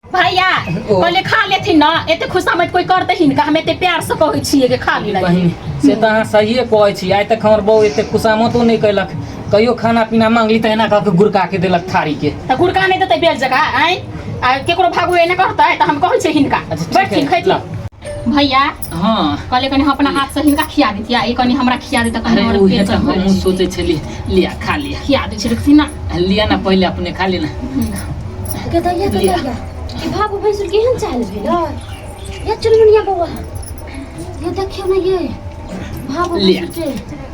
भैया ओ। पहिले खा लेथिन ना एते खुशामत कोई करते ही ना हम एते प्यार से कहै छियै कि खा ली बहिन से तऽ अहाँ सहिए कहै छी आइ तक हमर बहू एतेक खुशामतो नहि कयलक कहियो खाना पीना मांगली तऽ एना कऽ के गुड़का के देलक थारी के तऽ गुड़का नहि देतै बेर जगह आँय आ केकरो भागू एने करतै तऽ हम कहै छियै हिनका अच्छा ठीक बैठथिन है खैथिन ला भैया हाँ कहले कनी हम अपना हाथ से हिनका खिया देतिया ई कनी हमरा खिया देता कनी अरे और उहे पेट तो भर हम जैती। सोचे छली लिया खा लिया खिया दे छै देखती ना लिया ना पहले अपने खा लेना गदरिया लिया। गदरिया ई बाबू भैंसुर केहन चाल भेल या चुनमुनिया बौआ ये देखियो ना ये बाबू लिया। भैंसुर के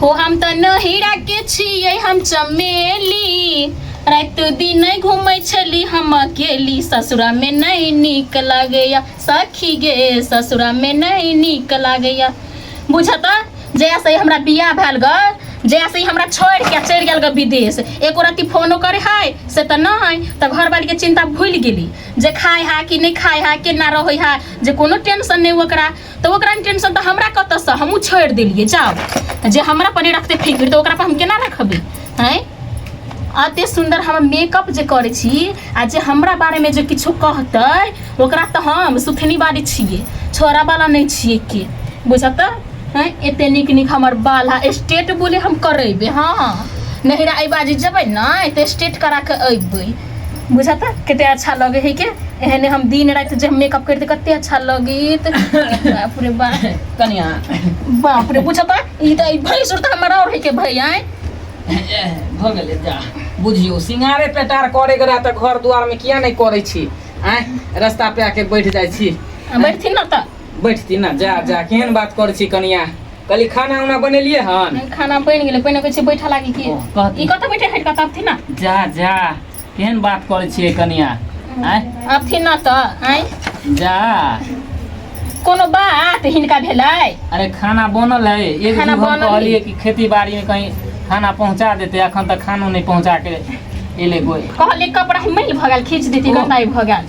हो हम तऽ नहिरा के छियै हम चमेली रात दिन नै घूमै छली हम अकेली ससुरा में नहीं नीक लागैया सखी गे ससुरा में नहीं नीक लागैया बुझता जया से हमरा बियाह भेल ग जया से हमरा छोड़ के चल गेल ग विदेश एको राति फोनो करे है से तऽ नहीं तऽ घर वाली के चिंता भूल गेली जे खाय है कि नहीं खाय है केना रहे है जे कोनो टेंशन नहीं ओकरा तऽ ओकरा नहि टेंशन तऽ हमरा कतऽसँ हमहूँ छोड़ि देलियै जाउ तऽ जे हमरा पर नहि रखतै फिकिर तऽ ओकरा पर हम केना रखबै आँय अते सुन्दर हम मेकअप जे करै छी आ जे हमरा बारेमे जे किछो कहतै ओकरा तऽ हम सुथनी बारी छियै छोड़ावला नहि छियै के बुझऽ तऽ हँ एते नीक नीक हमर बाल है स्टेट बोले हम करेबै हँ नहिरा एहि बाजी जेबै ने तऽ स्टेट करा कऽ अयबै बुझत कते अच्छा लगे है के एहने हम दिन रात जब मेकअप करते कते अच्छा लगीत बाप रे बा कनिया बाप रे बुझत ई त ई भई सुरता हमरा और है के भई आए भ गेले जा बुझियो सिंगारे पेटार करे के रहत घर द्वार में किया नहीं करे छी आए रास्ता पे आके बैठ जाय छी बैठथिन ना त बैठती ना जा जा केहन बात कर छी कनिया कली खाना उना बनेलिए हन खाना बन गेले पहिने कह छी बैठा लागी की ई कत बैठे हट कत थी ना जा जा केहन बात कर छी कनिया आय अब थी ना त आय जा कोनो बात हिनका भेले अरे खाना बनल है एक खाना बनल कहलिए कि खेती बाड़ी में कहीं खाना पहुंचा देते अखन तक खानो नहीं पहुंचा के एले कोई कहले कपड़ा मिल भगल खींच देती गंदाई भगल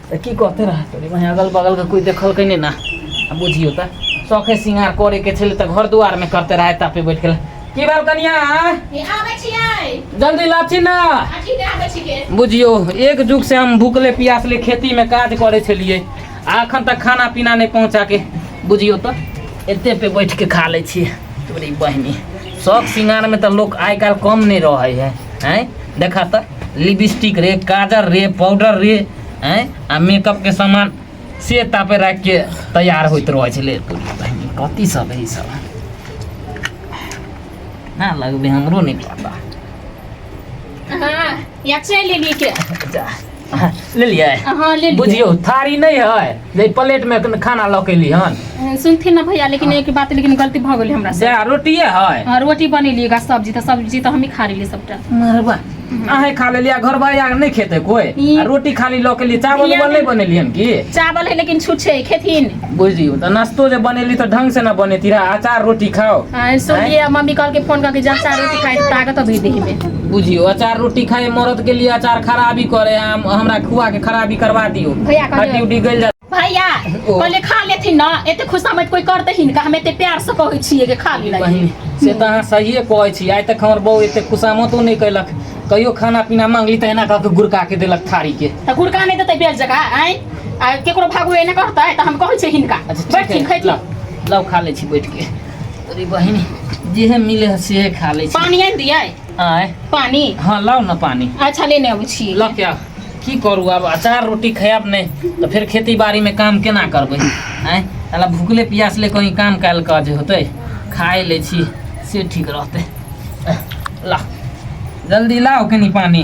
तऽ की कहते रहतै रे बहिन अगल बगलके कोइ देखलकै नहि ने आ बुझियौ तऽ शौखे सिंगार करैके छलै तऽ घर दुआरमे करते रहै तापे बैठ गेल की भेल कनिया ये आबै छियै जल्दी लाची ना अथी दे आबै छिके बुझियौ एक जुग से हम भूखले प्यासले खेती में काज करे छलिए आ अखन तक खाना पीना नहीं पहुंचा के बुझियौ तो एते पे बैठ के खा ले छिए तोरी बहनी शौक सिंगार में तो लोग आइ काल्हि कम नहीं रहे है हैं देखा तो लिपस्टिक रे काजर रे पाउडर रे आँय आ मेकअपके सामान से तापे राखि के तैयार होइत रहै छलै कथी सब है सब ना लगबे हमरो नहीं पता हाँ, या चलि लेलियै के जा ले लियै हाँ ले लियै बुझियौ थारी नहि है जे प्लेट में कन- खाना लऽ के एली हन सुनथिन ना भैया लेकिन एक बात लेकिन गलती भऽ गेलै हमरा से से रोटिए है हाँ, रोटी बनेलिएगा सब्जी तो सब्जी तो हम ही खा रही सबटा मरबा अहे खा लेली आ घर भाई आके नहीं खेते कोई ई- आ रोटी खाली लऽ के ली चावल इहाँ उवल नहीं में- बनेली हन की चावल है लेकिन छूट छै खेथिन बुझियो तऽ नाश्तो जे बनेली तऽ ढंग से ना बनेती रहा अचार रोटी खाओ आ, सुनलिए मम्मी कहलकै फोन करके जा चार रोटी खाए ताकत अभी देह में बुझियो अचार रोटी खाए मरद के लिए अचार खराबी करे है हम हमरा खुआ के खराबी करवा दियो भैया कह हड्डी उड्डी गल जा भैया ओ। कहले खा लेथिन ना एते खुशामत कोई करते ही का हम एते प्यार से कहै छियै कि खा ली बहिन से तऽ अहाँ सहिए कहै छी आइ तक हमर बहू एते खुशामतो नहि कैलक कहियो खाना पीना मांगली तऽ एना कऽ के गुड़का के देलक थारी के त गुड़का नै देतै बेल जका आइ आ केकरो भागो एना करतै त हम कहै छियै हिनका अच्छा ठीक बैठथिन है खैथिन लाउ लाउ खा लै छी बैठ के अरे बहिन जे है मिले है से खा ले पानी आनि दियै आय पानी हाँ लाओ ना पानी अच्छा लेने अबै छी ल क्या की करू आब अचार रोटी खायब नहीं तो फिर खेती बाड़ी में काम केना करबै आय साला भूखले प्यास ले कहीं काम काल काज होते खाए ले छी से ठीक रहते ला जल्दी लाओ कनी पानी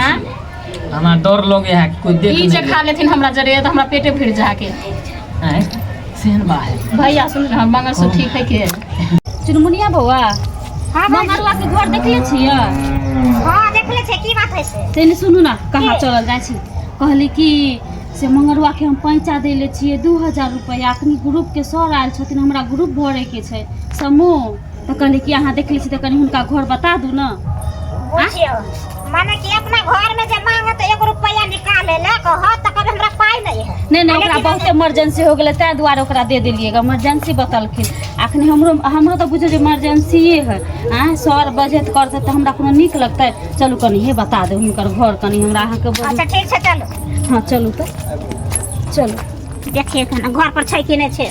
हाँ? हमरा डर लगे है कोई देख ई जे खा लेथिन हमरा जरे तो हमरा पेटे भर जाके हैं सेहन बा है भैया सुन ना मंगल सो ठीक है के चुनमुनिया बौआ हाँ भाई मंगलवा के घर देखले छियै हाँ देख ले छे की बात है से तेने सुनू ना कहाँ के? चलल जाइ छी कहली कि से मंगलवा के हम पैंचा देले छियै दू हजार रुपैआ अखनी ग्रुप के सर आयल छथिन हमरा ग्रुप भरे के छै समूह तऽ कहली कि अहाँ देखले छी तऽ कनि हुनका घर बता दू ने बुझियो माने कि अपना घर में जे मांगे तो एक रुपया निकाले ले कह तो कभी हमरा पाई नहीं है नहि नहि ओकरा बहुत इमरजेंसी हो गेलै ताहि दुआरे ओकरा दे देलियै गे इमरजेंसी बतलखिन अखन हमरो हमरो तऽ बुझियौ जे इमरजेंसिए है आँय सर बजत करतै तऽ हमरा कोनो नीक लगतै चलू कनि हे बता दे हुनकर घर कनि हमरा अहाँके बड़- अच्छा ठीक छै चलू हँ चलू तऽ चलू देखिए खाना घर पर छै कि नहीं छै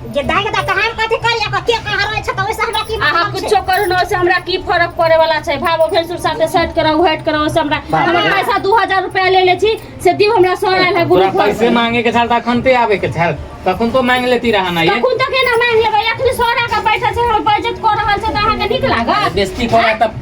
जे दाइ के तऽ हम कथी करिया के के कहाँ रहै छै तऽ ओइसे हमरा की अहाँ मतलब छै कुछो करू ना ओइसे हमरा की फर्क पड़े वाला छै भाव भेसुर साथे सेट कराउ हट कराउ ओइसे हमरा बाप हमर रे। पैसा दू हजार रुपया ले ले छी से दिउ हमरा सर आयल है तोरा ग्रुप पैसे मांगे के छल तऽ अखन ते आबे के छल तखन तो मांग लेती रहा ना ये तखन तक एना मांग लेबै अखन सर आके बैठल छै हम बजट कऽ रहल छै तऽ अहाँके नीक लागत बेस्ती करा तब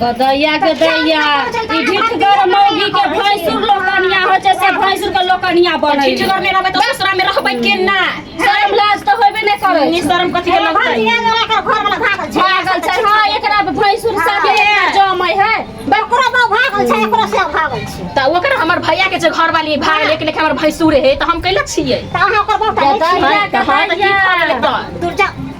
गदइया गदइया ई ढिठगर मौगी के भैंसुर लोकनिया होइ छै से भैंसुर के लोकनिया बनै ढिठगर नहि रहबै तऽ ससुरा मे रहबै केना शर्म लाज तऽ होबे नहि करै छै शर्म कथी के लगतै भागल छै हँ एकरा भैंसुर साथे जमै है बकरो बा भागल छै एकरो से भागल छै तऽ ओकर हमर भैया के जे घर वाली भाग लेके लेके हमर भैंसुर है तऽ हम कैला छियै तऽ अहाँ ओकर बहुत गदइया गदइया दुर्जा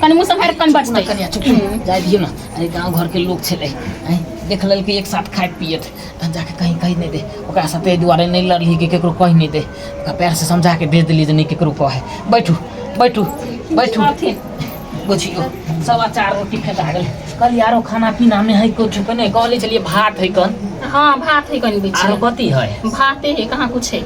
कनि मुँह सम्हारि कनि चुप ना बजतै कनिया चुप जाय दियो ना अरे गांव घर के लोग छले हैं देख लेल कि एक साथ खाइत पियत आ जाके कहीं कहि नहीं दे ओकरा साथे एहि दुआरे नहीं लड़ली कि केकरो कहि नहीं दे ओकरा पैर से समझा के भेज देली जे नहीं केकरो कहे बैठू बैठू बैठू अथी बुझियो सवा चार रोटी फेंका गेल कल यारो खाना पीना में है कुछ कने कहले चलिए भात है कन हाँ भात है कनि आरो बीच कथी है भाते है कहाँ कुछ है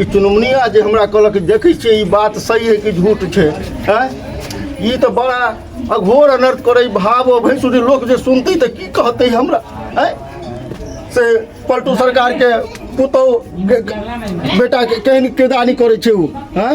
ई चुनमुनिया जे हमरा कहलक देखै छियै ई बात सही है कि झूठ छै हैं ई तऽ बड़ा अघोर अनर्थ करै भाव भैंसुरी लोक जे सुनतै तऽ की कहतै हमरा हैं से पलटू सरकारके पुतहु बेटाके केहन केदानी करै छै ओ हैं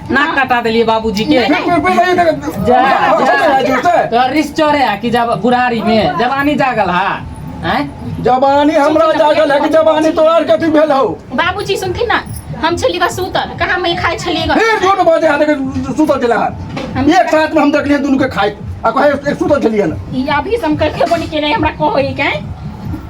नाक कटा देलिए बाबूजी के तो रिस चोरे है कि जब बुढ़ारी में जवानी जागल है हैं जवानी हमरा जागल है कि जवानी तोरार कथी भेल हो बाबूजी सुनथिन ना हम छली बस सुतल कहाँ मैं खाए छली ग फिर झूठ बाजे हाथ के सुतल चला हाथ एक साथ में हम देखलिए दोनों के खाए आ कहे एक सुतल चलिए ना ई अभी से हम करके बनी के नहीं हमरा कहो ई के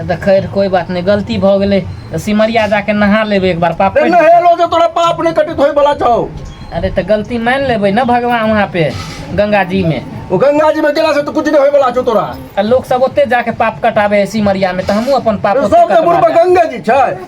तऽ खैर कोई बात नहीं गलती भऽ गेलै तऽ सिमरिया जाके नहा लेबै एक बार पाप ए कटि- नहेलो जे तोरा पाप नहि कटित होय बला छौ अरे तऽ गलती मानि लेबै ने भगवान वहाँ पे गंगा जी में ओ गंगा जी में गेला से तो कुछ नहीं होय बला छौ तोरा आ लोग सब ओते जाके पाप कटाबे है सिमरिया में तऽ हमहूँ अपन पाप ओते सबसे कटवा बुढ़बा लेब। गंगा जी छै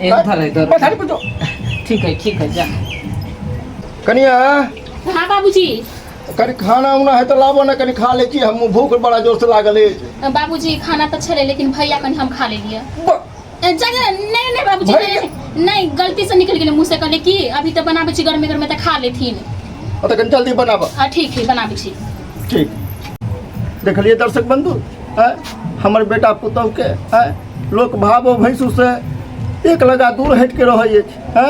एक धरे धरे पछाड़ी पर जो ठीक है ठीक है जा कनिया हाँ बाबूजी कनी खाना उना है तो लाबो ना कनी खा ले छी हम भूख बड़ा जोर से लागल है बाबूजी खाना तो छले लेकिन भैया कनी हम खा ले लिए ब- ए, जा जा नहीं नहीं बाबूजी भैया? नहीं, नहीं गलती से निकल गेले मुंह से कहले कि अभी तो बनाबे छी गर्मे गर्मे तो खा लेथिन अतः कनी जल्दी बनाबा आ ठीक है बनाबे छी ठीक देखलिए दर्शक बंधु है हमर बेटा पुतहु के है लोक भाव भैंसू से एक लगा दूर हट के रहे है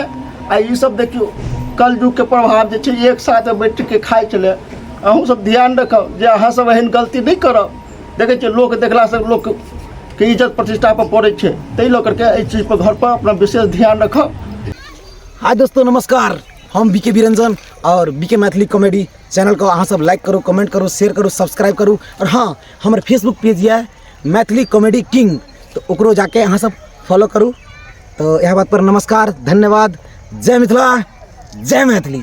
आ ई सब देखियो कल युग के प्रभाव जे छै एक साथ बैठ के खाए चले अहूँ सब ध्यान रखब जे अहाँ सब एहन गलती नहीं करब देखे छियै लोक देखला से लोक के इज्जत प्रतिष्ठा पर पड़े छै ताहि लऽ करके एहि चीज पर घर पर अपना विशेष ध्यान रखब हाय दोस्तों नमस्कार हम बीके बिरंजन और बीके मैथिली कॉमेडी चैनल को अहाँ सब लाइक करू कमेंट करू शेयर करू सब्सक्राइब करू और हाँ हमर फेसबुक पेज यऽ मैथिली कॉमेडी किंग तो ओकरो जाके अहाँ सब फॉलो करू तो यह बात पर नमस्कार धन्यवाद जय मिथिला जय मैथिली